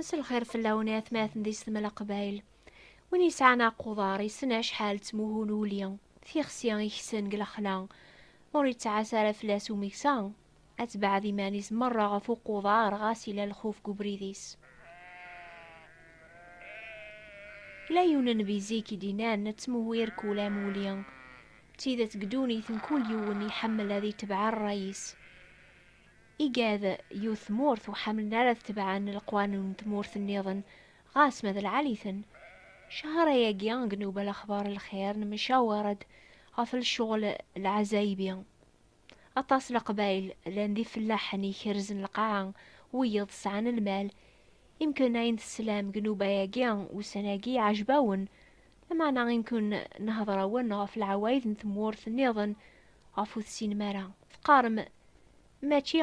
Msel xir fell-awen i atmaten di setmel aqbayl. Win yesɛan aquḍar yessen acḥal ttmuhu n uli, tixsi iksen deg lexla. Ma ur yettɛas ara fell-as umeksa, ad tebɛed iman-is merra ɣef uquḍar ɣas yella lxuf deg ubrid-is. Yella yiwen n nnbi zik i d-innan ttmuhu irkul am uli. D tidet deg ddunit mkul yiwen iḥemmel ad itebɛ rray-is. Igad yiwet tmurt ur ḥemmlen ara ad tebɛen leqwanun n tmurt nniḍen ɣas ma d lɛali-ten. Cahar-ayagi deg Newbal Axbar Lxir nemcawer-d ɣef lecɣel lɛazayebi. Aṭas Leqbayel llan d ifellaḥen ikerzen lqaɛa, wiyeḍ sɛan lmal. Imken ayen teslam deg nnuba-agi ussan-agi iɛejb-awen, lameɛna imken nehder-awen ɣef lɛawayed n tmurt nniḍen ɣef ur tesinem ara. Teqqarem, Mačči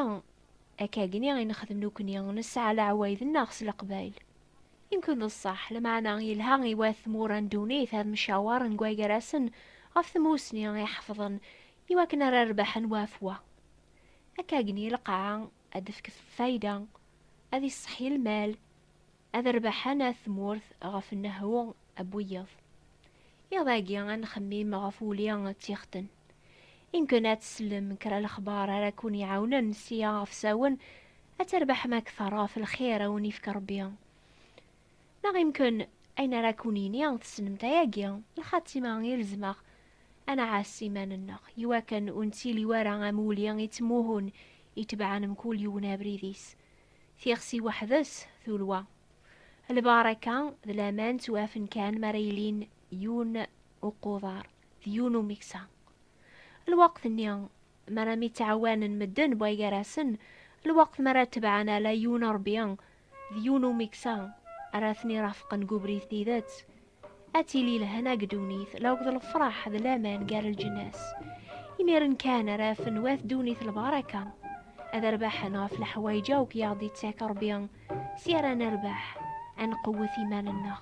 akkagni i nexdem nekni, nesɛa leɛwayed-nneɣ s Leqbayel. Imken d ṣṣeḥ, lameɛna yelha i wat tmura n ddunit ad mcawaren deg wagar-asen ɣef tmussni iḥefḍen i wakken ara rbaḥen wa ɣef wa. Akkagni lqaɛa ad d-tefk tfayda, ad isseḥyi lmal, ad rbaḥen at tmurt ɣef nnehhu n wiyeḍ. Iḍ-agi ad nxemmim ɣef wuli d tixetten. Imken ad tsellem kra lexbar ara kkun-iɛawnen sia ɣef sawen ad terbaḥem akteṛ ɣef lxir a wen-ifk Ṛebbi. Neɣ imken ayen ara kun-yini tessnemt ayagi, lxatima i rezmeɣ ad nɛass iman-nneɣ i wakken ur nettili wara am wuli ittmuhun itebɛen mkul yiwen abrid-is. Tixsi weḥd-s tulwa. Lbaṛaka d laman ttwafen kan mi ara ilin yiwen uquḍar d yiwen umeksa. Lweqt-nni mi ara mi ttɛawanen medden bɣa gar-asen, lweqt mi ara tebɛen ala yiwen Ṛebbi d yiwen umeksa ara ten-irafqen deg ubrid tidet, ad tili lehna deg ddunit laweḍ d lefraḥ d laman gar lǧennas. Imiren kan ara afen wat ddunit lbaraka, ad rbaḥen ɣef leḥwayeǧ akk i aɣ-d-ittak Rebbi, si ara nerbeḥ, ad nqewwet iman-nneɣ.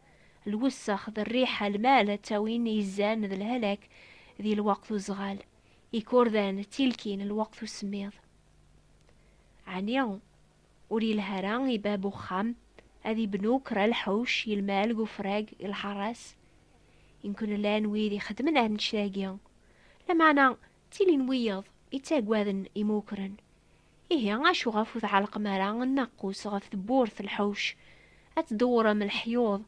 lwessex d rriḥa, lmal ttawin izan d lhalak di lweqt uzɣal, ikurdan ttilkin lweqt usemmiḍ. Ɛni ur yelha ara i bab uxxam ad ibnu kra lḥuc i lmal g ufrag i lḥaras? Imkun llan wid ixeddmen annect-agi, lameɛna ttilin wiyeḍ ittaggaden imukren, Ihi acu ɣef ur tɛellqem ara nnaqus ɣef tewwurt lḥuc, ad tdewwrem leḥyuḍ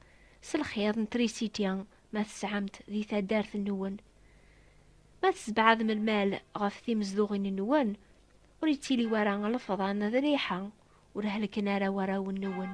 s lxiḍ n trisiti ma tesɛam-t di taddart-nwen? Ma tesbeɛdem lmal ɣef timezduɣin-nwen, ur yettili wara lefḍan d rriḥa, ur helken ara warraw-nwen.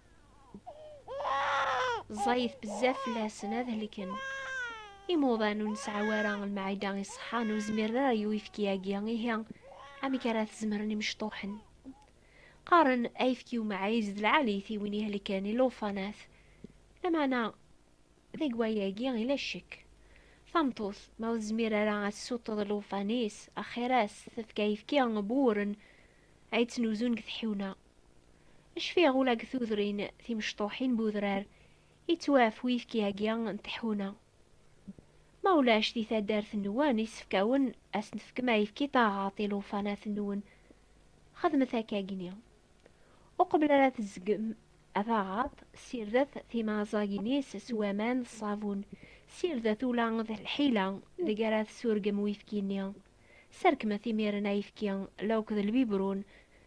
ẓẓayit bezzaf fell-asen ad helken. Imuḍan ur nesɛa ara lmeɛida iṣeḥḥan ur zmiren ara i uyefki-agi, ihi amek ara t-zemren imecṭuḥen? Qqaren ayefki umɛiz d lɛalit i win ihelken i lufanat. Lameɛna deg wayagi ila ccek. Tameṭṭut ma ur tezmir ara ad tessuṭṭeḍ lufan-is, axir-as tefk ayefki n wuren ay ttnuzun deg tḥiwna. Cfiɣ ula deg tudrin timecṭuḥin n udrar yettwaf uyefki-agi n tḥuna. Ma ulac di taddart-nwen isefkawen ad sen-tefkem ayefki taɣaḍt i lewṭanat-nwen, xedmet akkagi-nni. Uqbel ara tezgem taɣaḍt, ssirdet timaẓagin-is s waman d ṣṣabun, ssirdet ula d lḥila deg ara tessurgem uyefki-nni. Serkmet imiren ayefki, lewk d lbibrun,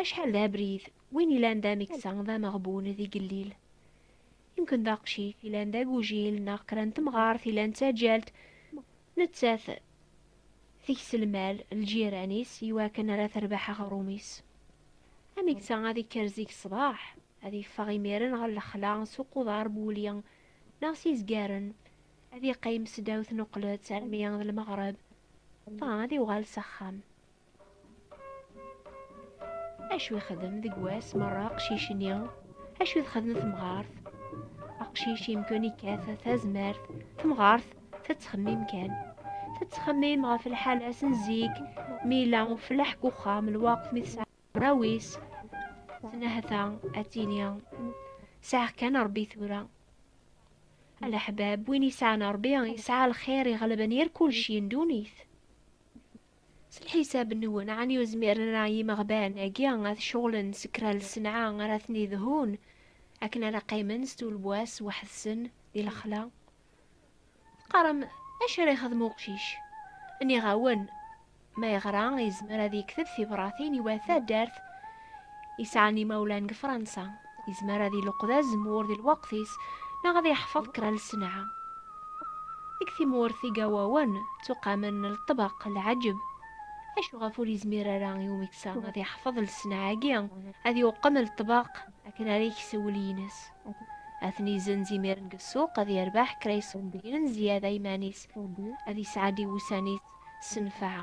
Acḥal d abrid, win ilan d ameksa, d ameɣbun, d igellil. Yemken d aqcic, ilan d agujil, neɣ kra n temɣart, ilan d taǧalt, nettat tekes lmal lǧiran-is i wakken ara terbeḥ aɣrum-is. Ameksa ad ikker zik ṣṣbeḥ, ad iffeɣ imiren ɣer lexla s uquḍar n wuli neɣ s izgaren, ad iqqim s ddaw tnuqlet armi d lmeɣreb, dɣa ad iwɣal s axxam. acu yexdem deg wass merra aqcic-nni acu txedem temɣart aqcic yemkun ikkat tazmert temɣart tettxemmim kan tettxemmim ɣef lḥala-s n zik mi yella uflaḥ deg uxxam lwaqt mi tesɛa rawis tenahta ad tini sɛiɣ kan rebbi tura alaḥbab win yesɛan rebbi yesɛa lxir iɣelben yir kulci n dunit S lḥisab-nwen, ɛni ur zmiren ara yimeɣban-agi ad ceɣlen s kra n lsenɛa ara ten-idhun akken ara qqimen s tulwas weḥd-sen di lexla? Teqqarem, Acu ara yexdem uqcic? Nniɣ-awen, Ma yeɣra, yezmer ad yekteb tibratin i wat taddart, yesɛan imawlan deg Fransa, yezmer ad iluqed azemmur di lweqt-is neɣ ad yeḥfeḍ kra n lsenɛa. Deg tmurt igawawen ttuqamen lṭbeq, lɛeǧb, acu ɣef ur yezmir ara i umeksa ad yeḥfeḍ lsenɛa-agi, ad yuqem lṭbeq akken ara yeks wul-ines, ad ten-izenz imiren deg ssuq, ad yerbeḥ kra iṣebbiyen n zyada iman-is, ad yesɛeddi wussan-is s nnfeɛ.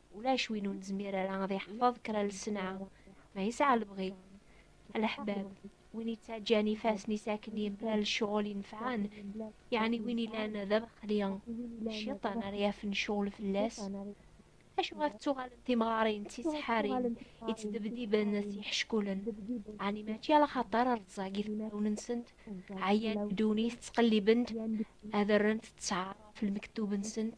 ulac win ur nezmir ara ad iḥfeḍ kra lesnaɛ, ma yesɛa lebɣi. Leḥbab, win yettaǧǧan ifassen-is akken yemla lecɣal inefɛen, yeɛni win ilan d abeqli, cciṭan ara yafen ccɣel fell-as. Acu ɣef ttuɣalent timɣarin d tiseḥḥarin yettdebdiben s yiḥeckulen? Ɛni mačči ala xaṭer rẓag i tefrawin-nsent, ɛyan ddunit ttqelliben-d ad rrent ttɛar ɣef lmektub-nsent?